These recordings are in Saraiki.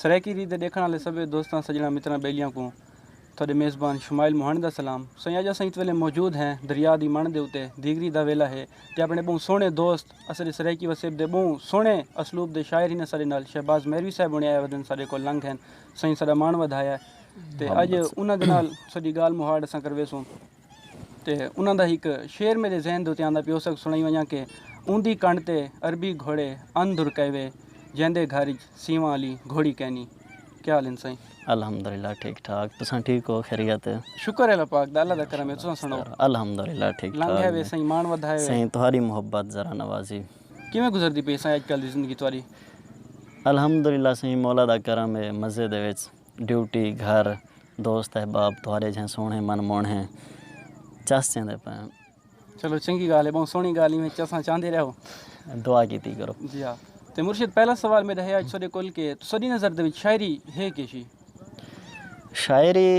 سرائیکی ریت دے ݙیکھݨ آلے سبھے دوستاں، سڄݨاں، متراں، ٻیلیاں کوں تہاݙے میزبان شمائل موہاݨے دا سلام۔ سائیں اڄ اساں ات ویلھے موجود ہیں دریا دی مݨ دے اتے دیگری دا ویلھا ہے تے آپݨے ٻہوں سوہݨے دوست اساݙے سرائیکی وسیب دے ٻہوں سوہݨے اسلوب دے شاعر ہن اساݙے نال شہباز مہروی صاحب ہوݨے آئے ودن ساݙے کول لنگھ ہن سائیں ساݙا ماݨ ودھایا تے اڄ انہاں دے نال ساݙی ڳالھ مہاڑ اساں کرویسوں۔ تے انہاں دا ہک شعر میڈے ذہن دے اتے آندا پیا او ساکوں سنڑائی ونجاں کہ اوندی کنڈ تے عربی گھوڑے ان در کئیوے جیندے گھر اچ سیواں آلی گھوڑی کینی۔ کیا حال ہن سائیں؟ الحمدللہ ٹھیک ٹھاک تساں ٹھیک ہو خیریت ہے؟ شکر ہے اللہ پاک دا اللہ دا کرم ہے تساں سنڑاؤ؟ الحمدللہ ٹھیک ٹھاک لنگھے وے سائیں مان ودھائے وے۔ سائیں تہاڈی محبت ذرا نوازی۔ کیویں گزردی پئی سائیں اج کل دی زندگی تہاڈی؟ الحمدللہ سائیں مولا دا کرم ہے مزے دے وچ۔ ڈیوٹی، گھر، دوست احباب تہاݙے جھیں سوہݨے من موہݨے چس چیندے پئن۔ چلو چنگی ڳالھ ہے ٻہوں سوہݨی ڳالھ ایویں چساں چاہندے رہو۔ دعا کیتی کرو۔ جی ہا تے مرشد پہلا سوال میݙا ہے اڄ تہاݙے کول کہ تہاݙی نظر دے وچ شاعری ہے کے شی؟ شاعری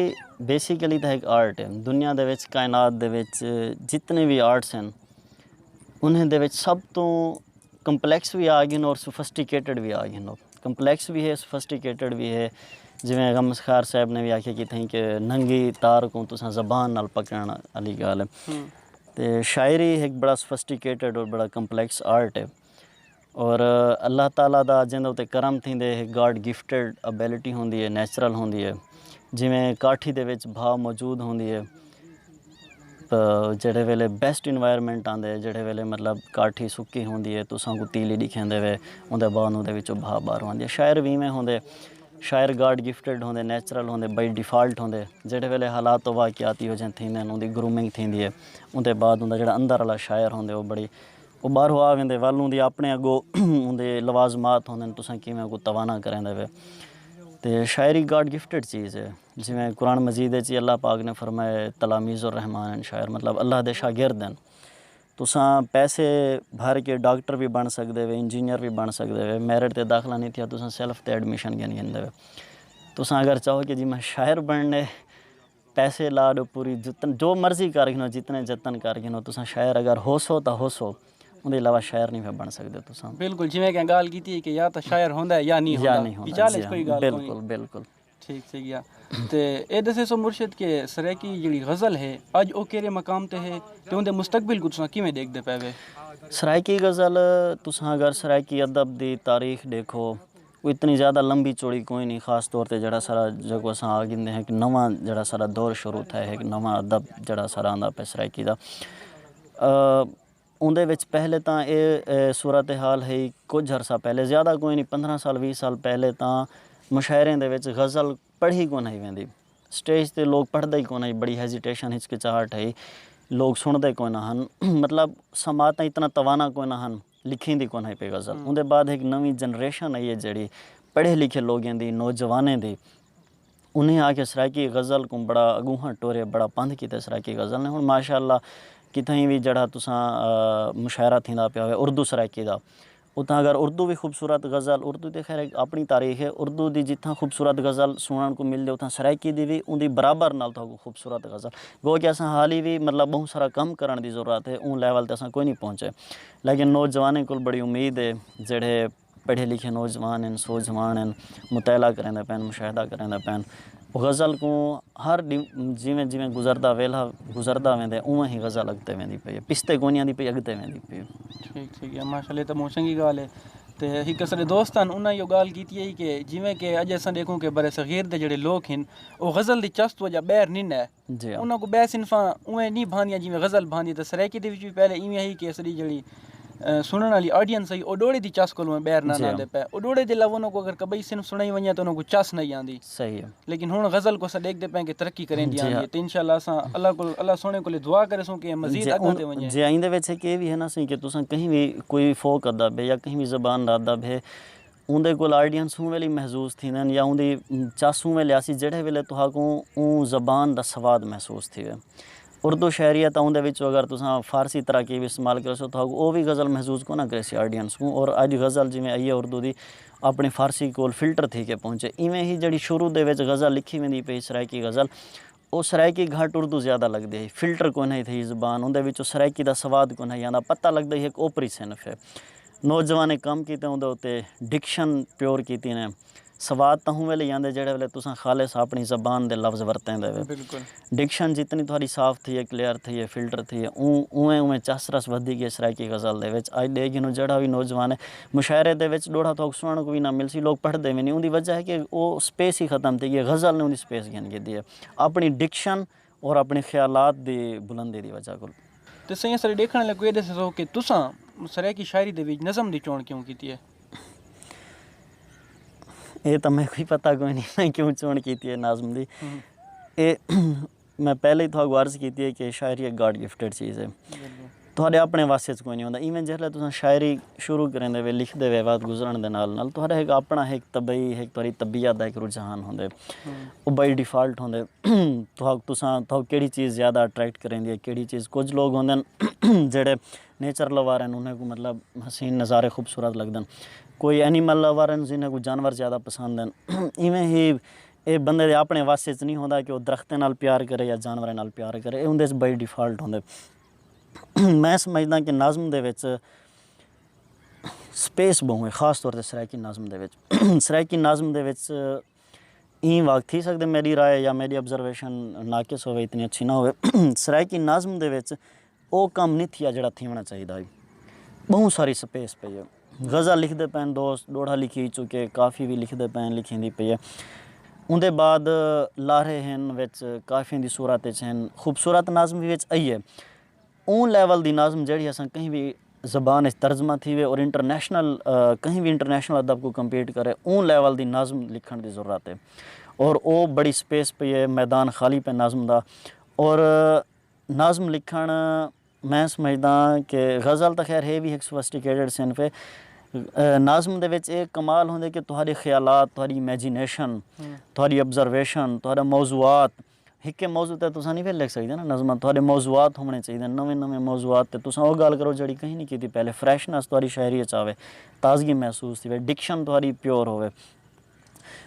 بیسیکلی تاں ہک آرٹ ہے۔ دنیا دے وچ کائنات دے وچ جتنے وی آرٹس ہن انہیں دے وچ سب توں کمپلیکس وی آ گھن اور سوفسٹیکیٹڈ وی آ گھن۔ کمپلیکس وی ہے سوفسٹیکیٹڈ وی ہے جیویں غم اذخار صاحب نے وی آکھیا کہ تھئیں کہ ننگی تار کوں تساں زبان نال پکڑݨ آلی ڳالھ ہے تے شاعری ہک بڑا سوفسٹیکیٹڈ بڑا کمپلیکس آرٹ ہے اور اللہ تعالی دا جیندے اتے کرم تھیندے ہک گاڈ گفٹیڈ ابیلٹی ہوندی ہے نیچرل ہوندی ہے جیویں کاٹھی دے وچ بھاؤ موجود ہوندی ہے جیڑھے ویلے بیسٹ انوائرمنٹ آندے جیڑھے ویلے مطلب کاٹھی سکی ہوندی ہے تساں کوں تیلی ڈکھیندے وے اوندے بعد اوندے وچوں بھاء باہروں آندی ہے شاعر وی ایویں ہوندے شاعر گاڈ گفٹیڈ ہوندے نیچرل ہوندے بائی ڈیفالٹ ہوندے جیڑھے ویلے حالات و واقعات ایہو جہے تھیندے اوندی گرومنگ تھیندی ہے اوندے بعد اوندا جیڑھا اندر آلا شاعر ہوندے او بڑی او باہروں آ ویندے ول اوندی اپنے اگو اوندے لوازمات ہوندن تساں کیویں اونکوں توانا کریندے وے تے شاعری گاڈ گفٹیڈ چیز ہے۔ جیویں قرآن مجید اچ ہی اللہ پاک نے فرمایا تلامیذ الرحمن ہن شاعر مطلب اللہ دے شاگرد ہن۔ تساں پیسے بھر کے ڈاکٹر وی بݨ سڳدے وے انجینئر وی بݨ سڳدے وے میرٹ تے داخلہ نی تھیا تساں سیلف تے ایڈمیشن گھن گھندے وے۔ تساں اگر چاہو کہ جی میں شاعر بݨݨے پیسے لا ݙو پوری جتن جو مرضی کر گھنو جتنے جتن کر گھنو تساں شاعر اگر ہوسو تاں ہوسو اوندے علاوہ شاعر نی بݨ سڳدے تساں۔ بالکل جیویں کہ گالھ کیتی کہ یا تاں شاعر ہوندا ہے یا نی ہوندا۔ وچال اچ کوئی گالھ کونی۔ بالکل بالکل۔ ٹھیک تھے گیا تے اے دسے سو مرشد کہ سرائیکی جڑی غزل ہے اج او کیرے مقام تے ہے تے اوندے مستقبل کو تساں کیویں دیکھ دے پے وے سرائیکی غزل تساں اگر سرائیکی ادب دی تاریخ دیکھو او اتنی زیادہ لمبی چوڑی کوئی نہیں خاص طور تے جڑا سارا جکو اساں آ گھندے ہیں کہ نواں جڑا سارا دور شروع تھے ہے نواں ادب جڑا سارا آندا پے سرائیکی دا اوندے وچ پہلے تاں اے صورت حال ہئی کجھ عرصہ پہلے زیادہ کوئی نی پندرہ سال ویہہ سال پہلے تاں مشاعریں دے وچ غزل پڑھی کون ہئی ویندی سٹیج تے لوک پڑھدے ای کون ہئی بڑی ہیزیٹیشن ہچکچاہٹ ہئی لوک سنڑدے کوئی نہ ہن مطلب سماعتاں اتنا توانا کوئی نہ ہن لکھیندی کون ہئی پئی غزل اوندے بعد ہک نویں جنریشن آئی ہے جیڑھی پڑھے لکھے لوگیں دی نوجوانیں دی انہیں آکھیا سرائیکی غزل کوں بڑا اگونہاں ٹورے بڑا پندھ کیتے سرائیکی غزل نے ہن ماشاء اللہ کتھائیں وی جیڑھا تساں مشاعرہ تھیندا پیا ہووے اردو سرائیکی دا اتھاں اگر اردو وی خوبصورت غزل اردو تے خیر ہک آپنڑی تاریخ ہے اردو دی جتھاں خوبصورت غزل سنڑݨ کوں ملدے اتھاں سرائیکی دی وی اوندی برابر نال تہاکوں خوبصورت غزل گو کہ اساں حالی وی مطلب بہوں سارا کم کرݨ دی ضرورت ہے اوں لیول تے اساں کوئی نی پہنچے لیکن نوجوانیں کول بڑی امید ہے جیڑھے پڑھے لکھے نوجوان ہن سوجھوان ہن مطالعہ کریندے پئے ہن مشاہدہ کریندے پئے ہن غزل کوں ہر ݙینہہ جیویں جیویں گزردا ویلھا گزردا ویندے اونویں ہی غزل اڳتے ویندی پئی ہے پچھتے کونی آندی پئی اڳتے ویندی پئی ہے ماشاء اللہ اے تاں ٻہوں چنڳی ڳالھ ہے تے ہک اساݙے دوست ہن انہاں ایہو ڳالھ کیتی ہئی کہ جیویں کہ اڄ اساں ݙیکھوں کہ برصغیر دے جیڑھے لوک ہن او غزل دی چس توں اڄ ٻاہر نی نئے انہاں کوں ٻئے صنفاں اونویں نی بھاندیاں جیویں غزل بھاندی ہے تاں سرائیکی دے وچ وی پہلے ایویں ہئی کہ اساݙی جیڑھی سݨݨ آلی آڈینس ہئی او ݙوڑے دی چس کولوں ٻیہر نہ ناندے پئے۔ او ݙوڑے دے علاوہ انہاں کوں اگر کٻئی صنف سݨائی ونڄے تاں انہاں کوں چس نہ ہئی آندی۔ لیکن ہݨ غزل کوں اساں ݙیکھدے پئے کہ ترقی کریندی آندی ہے تے انشاءاللہ اساں اللہ کولوں اللہ سوہݨے کولے دعا کریسوں کہ مزید اڳاں تے ونڄے۔ جی ایندے وچ ہک اے وی ہے نا سئیں کہ تساں کہیں وی کوئی فوک ادب ہے یا کہیں وی زبان دا ادب ہے اوندے کول آڈینس اوں ویلے محظوظ تھیندن یا اوندی چس اوں ویلے آسی جیڑھے ویلے تہاکوں اوں زبان دا سواد محسوس تھیوے۔ اردو شاعری ہے تاں اوندے وچوں اگر تساں فارسی تراکیب استعمال کریسو تہاکوں او وی غزل محظوظ کوئناں کریسی آڈینس کوں اور اج غزل جیویں ائیے اردو دی اپنی فارسی کول فلٹر تھی کے پہنچے۔ ایویں ہی جیڑھی شروع دے وچ غزل لکھی ویندی پئی سرائیکی غزل او سرائیکی گھٹ اردو زیادہ لگدی ہئی۔ فلٹر کوئناں ہئی تھئی زبان اوندے وچوں سرائیکی دا سواد کوئناں ہئی آندا پتہ لگدا ہئی ہک اوپری صنف ہے۔ نوجوانیں کم کیتے اوندے اتے ڈکشن پیور کیتی نے۔ سواد تاں ہوں ویلے ہی آندے جیڑھے ویلے تساں خالص آپنی زبان دے لفظ ورتیں دے وے۔ ڈکشن جتنی تہاڈی صاف تھئی ہے کلیئر تھئی ہے فلٹر تھئی ہے اوں اونویں اونویں چس رس ودھی گئے سرائیکی غزل دے وچ۔ اج ڈے گھنوں جیڑھا وی نوجوان ہے مشاعرے دے وچ ڈوہڑا تہاک سنڑݨ کوں وی نہ ملسی، لوک پڑھدے وی نی، اوندی وجہ ہے کہ او سپیس ہی ختم تھئی ہے، غزل نے اوندی سپیس گھن گھدی ہے اپݨی ڈکشن اور اپݨے خیالات دی بلندی دی وجہ کول۔ تے سئیں اساݙے ݙیکھݨ آلیاں کوں اے ݙس ݙسو کہ تساں سرائیکی شاعری دے وچ نظم دی چوݨ کیوں کیتی ہے؟ اے تاں میکوں ہی پتہ کوئی نی میں کیوں چوݨ کیتی ہے نظم دی۔ اے۔ میں پہلے ہی تہاکوں عرض کیتی ہے کہ شاعری ایک گاڈ گفٹڈ چیز ہے تہاڈے اپنے وس اچ کوئی نہیں ہوندا ایویں جس لے تساں شاعری شروع کریندے وے لکھدے وے وقت گزرن دے نال نال تہاڈا ہک اپنا ہک طبعی ہک تہاڈی طبیعت دا ہک رجحان ہوندے او بائی ڈیفالٹ ہوندے تہاک تساں تہاکوں کیڑی چیز زیادہ اٹریکٹ کریندی ہے کیڑی چیز کچھ لوگ ہوندے ہن جیڑھے نیچر لور ہن انھاں کوں مطلب حسین نظارے خوبصورت لگدن کوئی اینیمل لور ہن جنھاں کوں جانور زیادہ پسند ہن ایویں ہی ایہ بندے دے آپݨے وس اچ نی ہوندا کہ او درختیں نال پیار کرے یا جانوراں نال پیار کرے ایہ اوندے اچ بائی ڈیفالٹ ہوندے۔ میں سمجھداں کہ نظم دے وچ سپیس ٻہوں اے خاص طور تے سرائیکی نظم دے وچ سرائیکی نظم دے وچ ایں وا تھی سڳدے میݙی رائے یا میݙی آبزرویشن ناقص ہووے اتنی اچھی نہ ہووے سرائیکی نظم دے وچ او کم نی تھیا جیڑھا تھیونڑاں چاہیدا ہئی۔ بہوں ساری سپیس پئی اے۔ غزل لکھدے پئے ہن دوست ݙوڑھا لکھی ہوئی چکے کافی وی لکھدے پئے ہن لکھیندی پئی اے۔ اوندے بعد لارھے ہن وچ کافیاں دی صورت وچ ہن خوبصورت نظم وی وچ ائیے۔ اوں لیول دی نظم جیڑھی اساں کہیں وی زبان اچ ترجمہ تھیوے اور انٹرنیشنل کہیں وی انٹرنیشنل ادب کوں کمپیٹ کرے اوں لیول دی نظم لکھݨ دی ضرورت اے۔ اور او بڑی سپیس پئی اے میدان خالی پئے نظم دا اور نظم لکھݨ میں سمجھداں کہ غزل تاں خیر ہے وی ہک سوفسٹیکیٹڈ صنف ہے۔ نظم دے وچ ایہ کمال ہوندے کہ تہاݙے خیالات، تہاݙی امیجینیشن، تہاݙی آبزرویشن، تہاݙے موضوعات ہکے موضوع تے تساں نی لکھ سڳدے نا نظم تہاݙے موضوعات ہووݨے چاہیدے ہن نویں نویں موضوعات تے تساں اوہ ڳالھ کرو جیڑھی کہیں نی کیتی پہلے فریشنس تہاݙی شاعری اچ آوے تازگی محسوس تھیوے ڈکشن تہاݙی پیور ہووے۔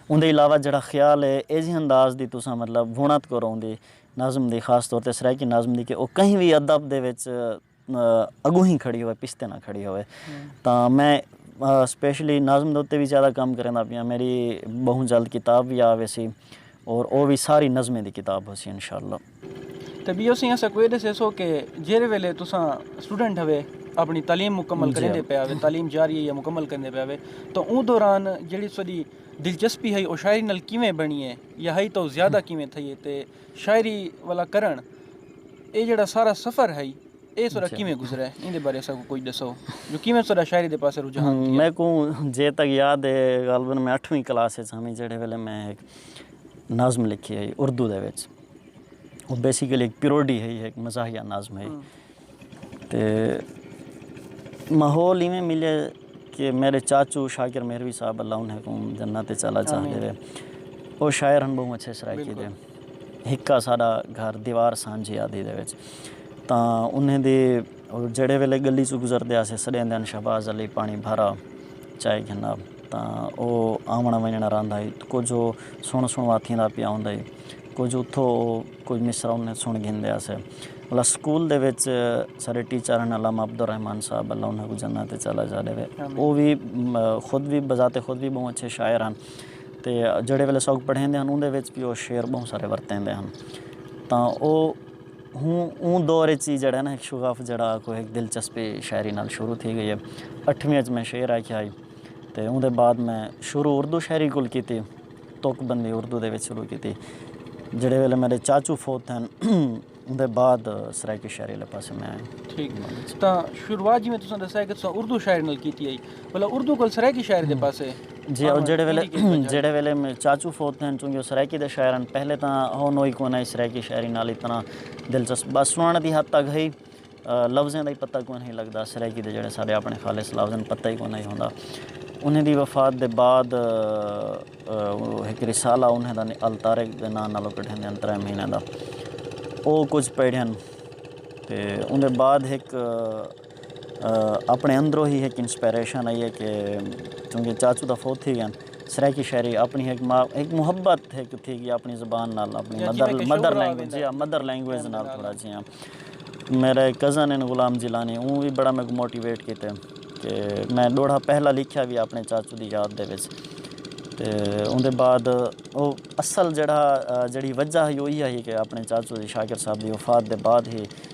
اوندے علاوہ جیڑھا خیال اے ایجھے انداز دی تساں مطلب وونت کرو اوندی نظم دی خاص طور تے سرائیکی نظم دی کہ او کہیں وی ادب دے وچ اگونہیں کھڑی ہووے پچھتے نہ کھڑی ہووے تاں میں سپیشلی نظم دے اتے وی زیادہ کم کریندا پیاں میڈی بہوں جلد کتاب وی آ ویسی اور او وی ساری نظمیں دی کتاب ہوسی انشاءاللہ۔ تے ٻیو سئیں اساکوں اے ݙسیسو کہ جیرھے ویلے تساں سٹوڈنٹ ہوے اپݨی تعلیم مکمل کریندے پئے ہوے تعلیم جاری ہے یا مکمل کریندے پئے ہوے تاں اوں دوران جیڑھی تساݙی دلچسپی ہئی او شاعری نال کیویں بݨی ہے یا ہئی تاں او زیادہ کیویں تھئی ہے تے شاعری والا کرݨ اے جیڑھا سارا سفر ہئی اے تساݙا کیویں گزرے ایندے بارے اساکوں کجھ ݙسو جو کیویں تساݙا شاعری دے پاسے رجحان تھیا۔ میکوں جے تک یاد ہے غالبا میں اٹھویں کلاس اچ ہمی جیڑھے ویلے میں نظم لکھی ہئی اردو دے وچ۔ بیسیکلی ایک پیروڈی ہئی ایک مزاحیہ نظم ہئی تے ماحول ایویں ملے کہ میرے چاچو شاکر مہروی صاحب اللہ انہیں کو جنت چلا جا دے او شاعر ہن بہوں اچھے سرائیکی دے ہکا ساڈا گھر دیوار سانجھی آدھی دے وچ تاں انہیں دے جڑے ویلے گلی چو گزر دے آسے سڑے اندن شہباز علی پانی بھرا چائے گھنا تاں او آوݨ ونڄݨ رہندا ہئی تاں کجھ او سݨ سݨوا تھیندا پیا ہوندا ہئی کجھ اتھو او کوئی مصرع انہیں سݨ گھندیا سے اللہ سکول دے وچ سارے ٹیچر ہن علامہ عبدالرحمن صاحب اللہ انہیں کو جنت وچ علی جا ݙیوے او وی خود وی بذات خود وی ٻہوں اچھے شاعر ہن تے جیڑھے ویلے ساکوں پڑھیندے ہن اوندے وچ وی او شعر ٻہوں سارے ورتیندے ہن تاں او ہوں اوں دور اچ ہی جڑا نا شغف جڑا کوئی ہک دلچسپی شاعری نال شروع تھی گئی ہے اٹھویں اچ میں شعر آکھیا ہی تے اوندے بعد میں شروع اردو شاعری کول کیتی توک بندی اردو دے وچ شروع کیتی جڑے ویلے میڈے چاچو فوت تھئن اوندے بعد سرائیکی شاعری والے پاسے میں آیا ٹھیک تاں شروعات جی میں تساں دسایا کہ تساں اردو شاعری نال کیتی ہے بھلا اردو کول سرائیکی شاعری دے پاسے جی او جیڑھے ویلے جیڑھے ویلے چاچو فوت تھئن چونکہ او سرائیکی دے شاعر ہن پہلے تاں ہو نوئی کوئی نہ ہی سرائیکی شاعری نال اتنا دلچسپ بس سنڑݨ دی حد تک ہئی لفظیں دا ہی پتہ کوئی نہ ہی لگدا سرائیکی دے جیڑھے سارے اپنے خالص لفظ ہن پتہ ہی کوئی نہ ہی ہوندا انہیں دی وفات دے بعد ہک رسالہ انہیں دا الطارق دے ناں نالو کڈھن دے انترے مہینے دا او کچھ پیڑھن تے اون دے بعد ہک اپݨے اندروں ہی ہک انسپائریشن آئی ہے کہ چونکہ چاچو تاں فوت تھی ڳئے ہن سرائیکی شاعری اپݨی ہک ماء ہک محبت ہک تھی ڳئی اپݨی زبان نال اپݨی مدر لینگویج جی ہاں مدر لینگویج نال تھوڑا جیہاں میرے کزن ہن غلام جیلانی اوں وی بڑا میکوں موٹیویٹ کیتے کہ میں ݙوہڑا پہلا لکھیا وی اپݨے چاچو دی یاد دے وچ تے اوندے بعد او اصل جیڑھا جیڑھی وجہ ہئی او ایہا ہئی کہ اپݨے چاچو دی شاکر صاحب دی وفات دے بعد ہی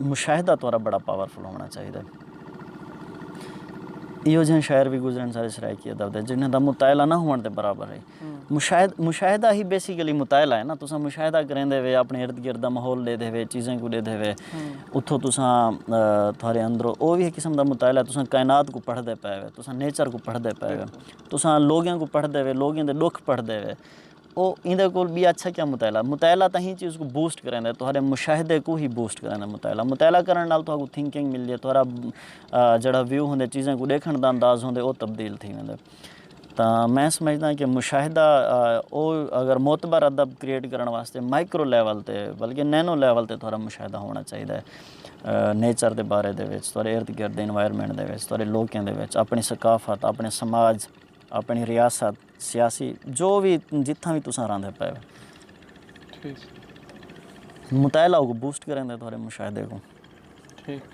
مشاہدہ تہاڈا بڑا پاورفل ہونا چاہیدا ہے۔ ایہو جیہاں شاعر وی گزرے ہن ساڈے سرائیکی ادب دے جنہاں دا مطالعہ نہ ہووݨ دے برابر ہے۔ مشاہدہ ہی بیسیکلی مطالعہ ہے نا تساں مشاہدہ کریندے ہوے اپݨے ارد گرد دا ماحول ݙیدھے ہوے چیزاں کوں ݙیدھے ہوے اتھوں تساں تہاڈے اندروں او وی ہک قسم دا مطالعہ ہے تساں کائنات کوں پڑھدے پئے ہو تساں نیچر کوں پڑھدے پئے ہو تساں لوگاں کوں پڑھدے ہوے لوگاں دے ݙکھ پڑھدے ہوے او ایندے کول ٻیا اچھا کیا مطالعہ مطالعہ تاں ہی چیز کوں بوسٹ کریندا ہے تہاݙے مشاہدے کوں ہی بوسٹ کریندا ہے مطالعہ مطالعہ کرݨ نال تہاکوں تھنکنگ ملدی ہے تہاݙا جیڑھا ویو ہوندے چیزاں کوں ݙیکھݨ دا انداز ہوندے او تبدیل تھی ویندے تاں میں سمجھداں کہ مشاہدہ او اگر معتبر ادب کریئٹ کرݨ واسطے مائیکرو لیول تے بلکہ نینو لیول تے تہاݙا مشاہدہ ہووݨا چاہیدا ہے نیچر دے بارے دے وچ تہاݙے ارد گرد دے انوائرمنٹ دے وچ تہاݙے لوکیں دے وچ اپݨی ثقافت اپݨے سماج اپݨی ریاست سیاسی جو وی جتھاں وی تساں رہندے پئے ہو مطالعہ اوکوں بوسٹ کریندے تہاڈے مشاہدے کوں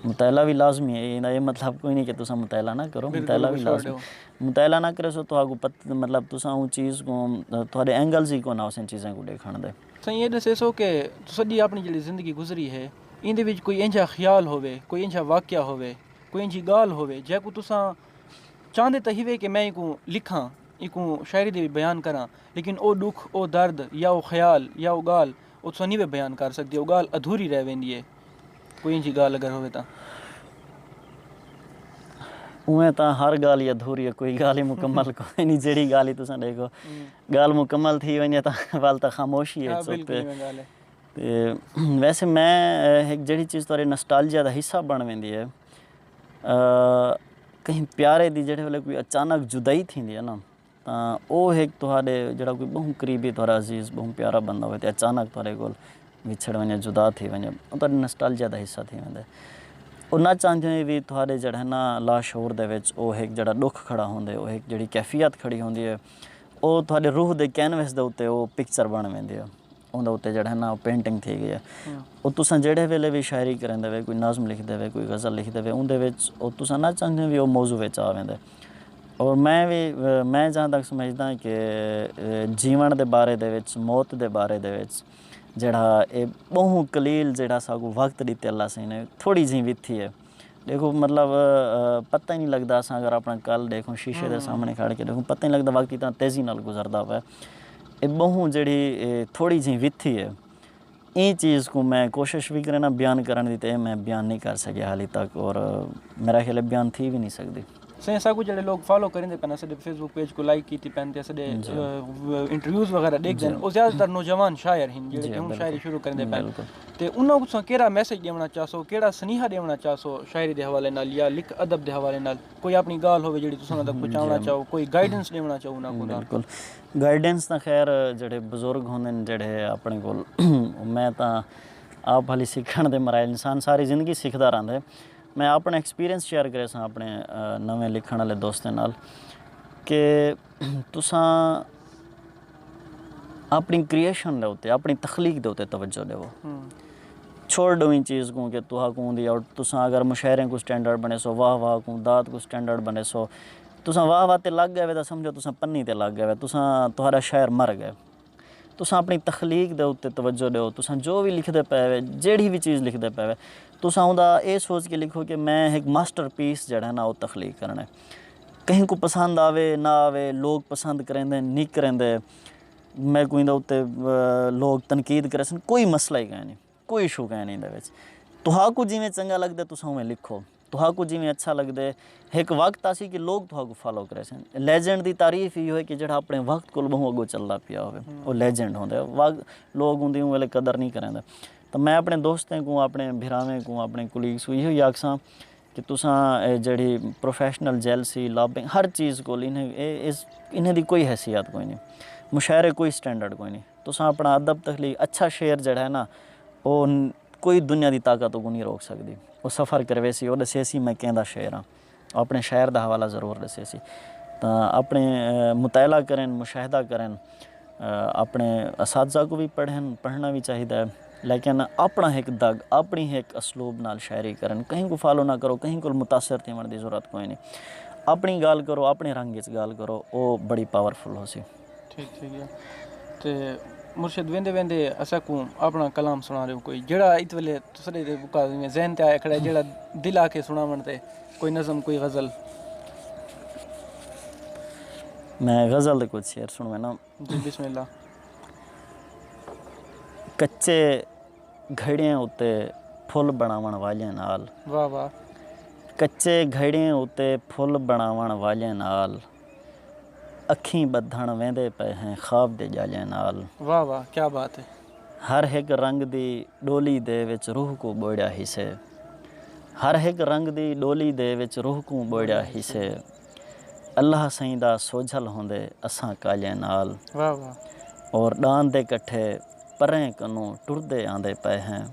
مطالعہ وی لازمی ہے ایندا اے مطلب کوئی نی کہ تساں مطالعہ نہ کرو مطالعہ وی لازمی ہے مطالعہ نہ کریسو تہاکوں پتہ مطلب تساں اوں چیز کوں تہاڈے اینگلز ای کون ہوسن چیزاں کوں ڈیکھنڑ دے۔ سائیں اے ڈسیسو کہ تساں دی اپنڑی جیڑھی زندگی گزری ہے ایندے وچ کوئی اینجھا خیال ہووے کوئی اینجھا واقعہ ہووے کوئی اینجھی گالھ ہووے جیکوں تساں چاہندے تاں ہیوے کہ میں اینکوں لکھاں، اینکوں شاعری دے وچ بیان کراں، لیکن او ڈکھ، او درد یا او خیال یا او گالھ او تساں نیوے بیان کر سکدے، او گالھ ادھوری رہ ویندی ہے۔ کوئی اینجھی گالھ اگر ہووے تاں۔ اوویں تاں ہر گالھ ای ادھوری ہے، کوئی گالھ ای مکمل کوئی نی، جیڑھی گالھ ای تساں ڈیکھو، گالھ مکمل تھی ونجے تاں ول تاں خاموشی ہے۔ ویسے میں ہک جیڑھی چیز تہاڈے نسٹالجیا دا حصہ بن ویندی ہے۔ کہیں پیارے دی جیڑھے ویلے کوئی اچانک جدائی تھیندی ہے نا تاں او ہک تہاݙے جیڑھا کوئی ٻہوں قریبی تہاݙا عزیز ٻہوں پیارا بندہ ہووے تے اچانک تہاݙے کول وچھڑ ونڄے جدا تھی ونڄے او تہاݙی نسٹالجیا دا حصہ تھی ویندے۔ او نہ چاہندے ہوئیں وی تہاݙے جیڑھے نا لاشعور دے وچ او ہک جیڑھا ݙکھ کھڑا ہوندے او ہک جیڑھی کیفیت کھڑی ہوندی ہے او تہاݙے روح دے کینوس دے اتے او پکچر بݨ ویندی ہے۔ اوندے اتے جیڑھا ہے نا او پینٹنگ تھی گئی ہے۔ او تساں جیڑھے ویلے وی شاعری کریندے وے کوئی نظم لکھدے وے کوئی غزل لکھدے وے اوندے وچ او تساں نہ چاہندے وی او موضوع وچ آ ویندے۔ اور میں وی میں جہاں تک سمجھداں کہ جیون دے بارے دے وچ موت دے بارے دے وچ جیڑھا اے ٻہوں قلیل جیڑھا ساکوں وقت ݙتے اللہ سئیں نے تھوڑی جیں وی تھی ہے۔ ݙیکھو مطلب پتہ ای نی لڳدا اساں اگر اپݨا کل ݙیکھوں شیشے دے سامݨے کھڑ کے ݙیکھوں پتہ ای نی لڳدا وقت کتنا تیزی نال گزردا پئے۔ اے ٻہوں جیڑھی تھوڑی جھیں وتھی اے ایں چیز کوں میں کوشش وی کرینا بیان کرݨ دی تے میں بیان نی کر سڳیا حالی تک اور میرا خیال اے بیان تھی وی نی سڳدی۔ سائیں اساکوں جیڑھے لوگ فالو کریندے پن اساڈے فیس بک پیج کوں لائک کیتی پن تے اساڈے انٹرویوز وغیرہ ڈیکھدے ہن او زیادہ تر نوجوان شاعر ہن جیڑھے کہ ہن شاعری شروع کریندے پن تے انہاں کوں تساں کیرا میسج ڈیونڑاں چاہسو کیڑا سنیہا ڈیونڑاں چاہسو شاعری دے حوالے نال یا لکھ ادب دے حوالے نال کوئی اپنی گالھ ہووے جیڑھی تساں انہاں تک پہنچاونڑاں چاہو کوئی گائیڈنس ڈیونڑاں چاہو انہاں کوں بالکل گائیڈنس تاں خیر جیڑھے بزرگ ہوندے ہن جیڑھے اپنے کول میں تاں آپ ہلی سکھنڑ دے مراحل انسان ساری زندگی سکھدا رہندے میں آپݨے ایکسپیرینس شیئر کریساں آپݨے نویں لکھݨ آلے دوستاں نال کہ تساں آپݨی کریئشن دے اتے آپݨی تخلیق دے اتے توجہ ݙیؤ چھوڑ ݙیؤ ایں چیز کوں کہ تہا کوں دی آؤٹ تساں اگر مشاعرے کوں سٹینڈرڈ بݨیسو واہ واہ کوں داد کوں سٹینڈرڈ بݨیسو تساں واہ واہ تے لڳ ڳئے وے تاں سمجھو تساں پنی تے لڳ ڳئے وے تساں تہاݙا شاعر مر ڳئے تساں اپݨی تخلیق دے اتے توجہ ݙیو تساں جو وی لکھدے پئے وے جیڑھی وی چیز لکھدے پئے وے تساں اوندا اے سوچ کے لکھو کہ میں ہک ماسٹر پیس جیڑھا ہے نا او تخلیق کرݨے کہیں کوں پسند آوے نہ آوے لوک پسند کریندے نی کریندے میکوں ایندا اتے لوک تنقید کریسن کوئی مسئلہ ہی کائنی کوئی ایشو کائنی ایندے وچ تہاکوں جیویں چنگا لگدے تساں اوویں لکھو تہاکوں جیویں اچھا لگدے ہک وقت آسی کہ لوگ تہاکوں فالو کریسن لیجنڈ دی تعریف ایہو ہے کہ جیڑھا اپنے وقت کول بہوں اگوں چلدا پیا ہووے او لیجنڈ ہوندے وگ لوگ اوندی اوں ویلے قدر نی کریندے تاں میں اپنے دوستیں کوں اپنے بھراویں کوں اپنے کولیگز کوں ایہو ہی آکھساں کہ تساں اے جیڑھی پروفیشنل جیلسی لابنگ ہر چیز کول انہاں دی کوئی حیثیت کوئی نی مشاعرے کوئی سٹینڈرڈ کوئی نی تساں اپنا ادب تخلیق اچھا شعر جیڑھا ہے نا او کوئی دنیا دی طاقت توں کونی روک سکدی او سفر کرویسی او ڈسیسی میں کیندا شعر آں او اپنے شعر دا حوالہ ضرور ڈسیسی تاں اپنے مطالعہ کرن مشاہدہ کرن۔ اپݨے اساتذہ کوں وی پڑھن پڑھݨا وی چاہیدا ہے لیکن اپݨا ہک دڳ اپݨی ہک اسلوب نال شاعری کرن کہیں کوں فالو نہ کرو کہیں کوں متاثر تھیوݨ دی ضرورت کوئینی اپݨی ڳالھ کرو اپݨے رنگ اچ ڳالھ کرو او بڑی پاورفل ہوسی تے مرشد ویندے ویندے اساکوں اپݨا کلام سݨا ݙیؤ کوئی جیڑھا ایں ویلے تساڈے تے بکا ذہن تے آیا کھڑا ہے جیڑا دل آ کے سناون تے کوئی نظم کوئی غزل۔ میں غزل دے کچھ شعر سنوینا۔ جی بسم اللہ۔ کچے گھڑیں اتے پھل بناون والیاں نال۔ واہ واہ۔ کچے گھڑیں اتے پھل بناون والیاں نال۔ اکھیں بدھن ویندے پئے ہیں خواب دے جالیاں نال۔ واہ واہ کیا بات ہے۔ ہر ہک رنگ دی ڈولی دے وچ روح کوں بوئڑیا ہیسے ہر ہک رنگ دی ڈولی دے وچ روح کوں بوئڑیا ہیسے اللہ سئیں دا سوجھل ہوندے اساں کالیں نال اور ڈان دے کٹھے پریں کنوں ٹردے آندے پئے ہیں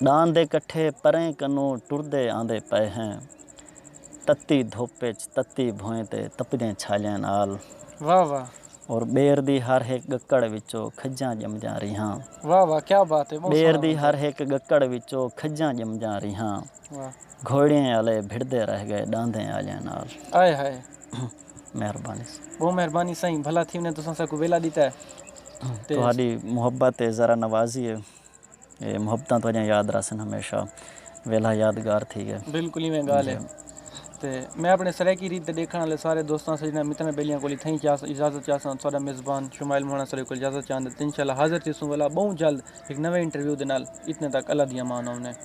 ڈان دے کٹھے پریں کنوں ٹردے آندے پئے ہیں تتی دھپ وچ تتی بھوئیں تے تپدیں چھالیں نال۔ اور ٻیر دی ہر ہک ڳکڑ وچو کھجاں ڄمجاں ریہاں۔ واہ واہ کیا بات ہے بہت سوہنا ٻیر دی بنتا ہر ہک ڳکڑ وچو کھجاں ڄمجاں ریہاں۔ واہ گھوڑیئیں آلے بھڑدے رہ ڳئے ݙاندھیں آلیاں نال۔ ہائے ہائے۔ مہربانی سائیں۔ بہوں مہربانی سائیں بھلا تھی ونجے تساں ساکوں ویلا ݙتا ہے تے۔ تہاݙی محبت ہے ذرا نوازی ہے۔ اے محبتاں تہاڈیاں یاد رہسن ہمیشہ ویلھا یادگار تھی گئے۔ بالکل ایویں گالھ ہے تے میں اپنے سرائیکی ریت تے ڈیکھن آلے سارے دوستاں سجناں متراں بیلیاں کول اتھاں ہی اجازت چاہساں تے تہاڈا میزبان شمائل موہنا ساڈے کول اجازت چاہندے تے انشاءاللہ حاضر تھیسوں ولا بہوں جلد ہک نویں انٹرویو دے نال اتنے تک اللہ دی امان آمنے۔